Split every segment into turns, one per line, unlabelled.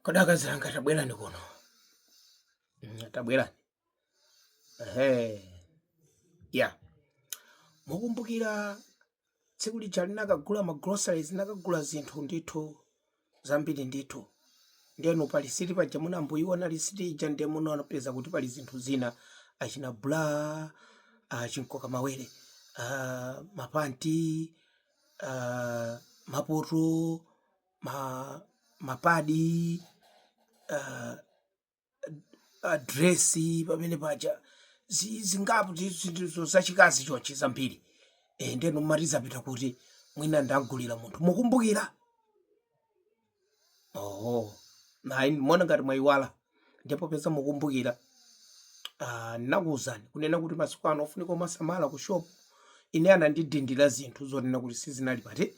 Kodi akazi anga tabwerani kuno. Mm, Tabwerani. Ehe. Ya. Mukumbukira tsiku lija linakagula ma groceries nakagula zinthu ndithu zambiri ndithu. Ndiyeno pa lisiti paja munakaiona lisiti ija ndiye munapeza kuti pali zinthu zina achina bra ah, chinkoka mawere ah, mapanti ah, mapoto ma, mapadi uh, madresi pamene paja zi- zingapo ndi zinthu zachikazi chonchi zambiri e, ndiyeno mumati zapita kuti mwina ndagulira munthu mukumbukira oho nayi mona ngati mwayiwala ndipepese mukumbukira ah, ndinakuwuzani kunena kuti masiku ano ofunika omasamala ku shopu ine anandidindira zinthu zonena kuti sizinalipo eti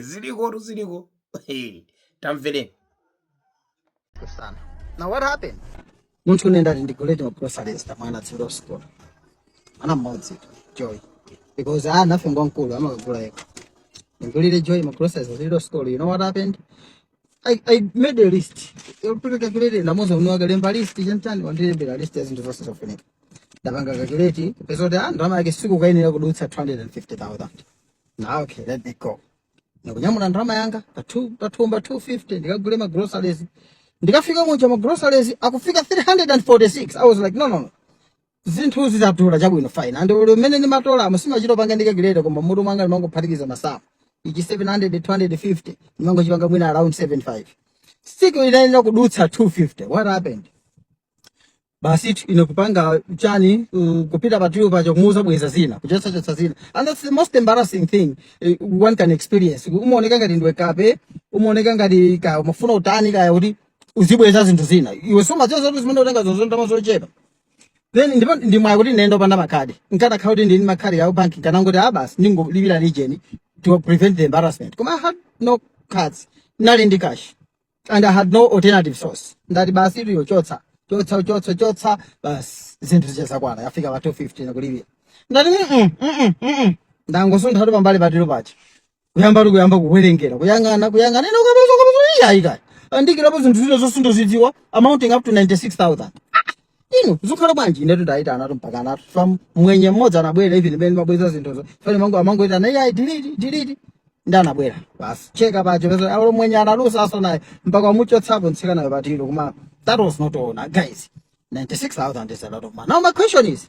ziliko tu ziliko
tamvereni tsono now what happened munthune ndati ndiguletu ma groceries a mwana otsegulira school mwana mmodzi tu joy because winayo ngwamkulu amakagula yekha ndigulire joy ma groceries otsegulira school you know what happened I, I made a list. Yopanga calculate ndamuuza iwe kalembe list chanichani wandilembera list ya zinthu zonse zofunika. Ndapanga calculate ndapeza kuti ah ndalama yake siikuyenera kudutsa 250,000. Now okay, let me go. Ndikunyamula ndalama yanga pathumba 250 ndikagule ma groceries. Ndikafika munja ma groceries akufika 346. I was like no no no. zinthu zatolazo chabwino fine and mmene ndimatolamo sindimachita kupanga ndi calculator koma mutu mwanga ndimangophatikiza masamu ichi 700 250 ndimangochipanga mwina around 75 sikuyenera kudutsa 250 what happened basitu ine kupanga chani uh, kupita pa till paja kumuuza bweza zina kuchotsa chotsa zina and that's the most embarrassing thing uh, one can experience umaoneka ngati ndiwe kapena umaoneka ngati ka umafuna kutani kaya kuti uzibweza zinthu zina iwe sumadziwa kuti zimene ukutengazo ndalama zochepa then ndipo ndi mwayi kuti ndinayenda opanda makhadi nkadakhala kuti ndili ndi makhadi a bank nkanangoti ah basi ndingolipira region to prevent the embarrassment koma i had no cards ndinali ndi cash and i had no alternative source ndati basitu kuchotsa chotsa kuchotsa chotsa basi zinthu zija zakwana yafika pa 250 ndikulipira ndati mm -mm, mm -mm, mm -mm. ndangosuntha tu pambali pa till paja kuyambatu kuyamba kuwerengera kuyang'ana kuyang'ana ine kupeza kupeza iyi ayi kaya andiikirapo zinthu zina zosazidziwa amounting up to 96000 ine zikukhala bwanji inetu ndayitanatu mpaka anthu from mwenye mmodzi anabwera even mmene ndimabweza zinthuzo fine amangoyitana ayi delete delete ndi anabwera basi kucheka paja kupeza hello mwenye analusa zosaona mpaka wamuchotsapo mtsikanayo pa till koma that was not all now guys 96000 is a lot of money now my question is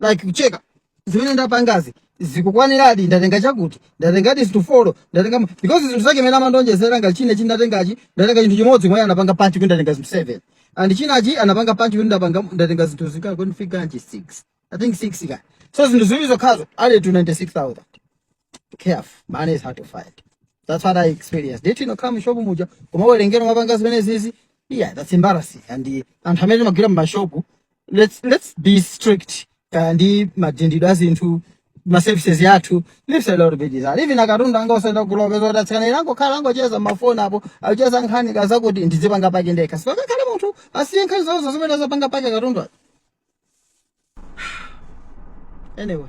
like ku checka zimene ndapangazi zikukwaniradi ndatenga chakuti ndatengadi zinthu folo ndatenga because zinthu zake zimene anandionjezera ngati chinachi ndatengachi ndatenga chinthu chimodzi iwo anapanga punch kuti ndatenga zinthu seven and chinachi anapanga punch kuti ndapanga ndatenga zinthu zokwana kufika nchi six i think six ka so zinthu ziwiri zokhazo added to 96000 careful. Money is hard to find. That's what I experienced. Ndituluka mu shop muja Koma kuwerengera amapanga zimenezizi. Yeah, that's embarrassing. And the anthu amene mumagwira mu shop, let's let's be strict. Kayendetsedwe ka a zinthu ma services yathu leaves a lot to be desired. Even katundu wanga osapakira upeza kuti atsikana amangokhala akungocheza mafoni apo, akucheza nkhani kaya zakuti ndizipanga pack ndekha. Mpaka kaye munthu asiye nkhani zonse zimenezo apange pack katundu. Anyway.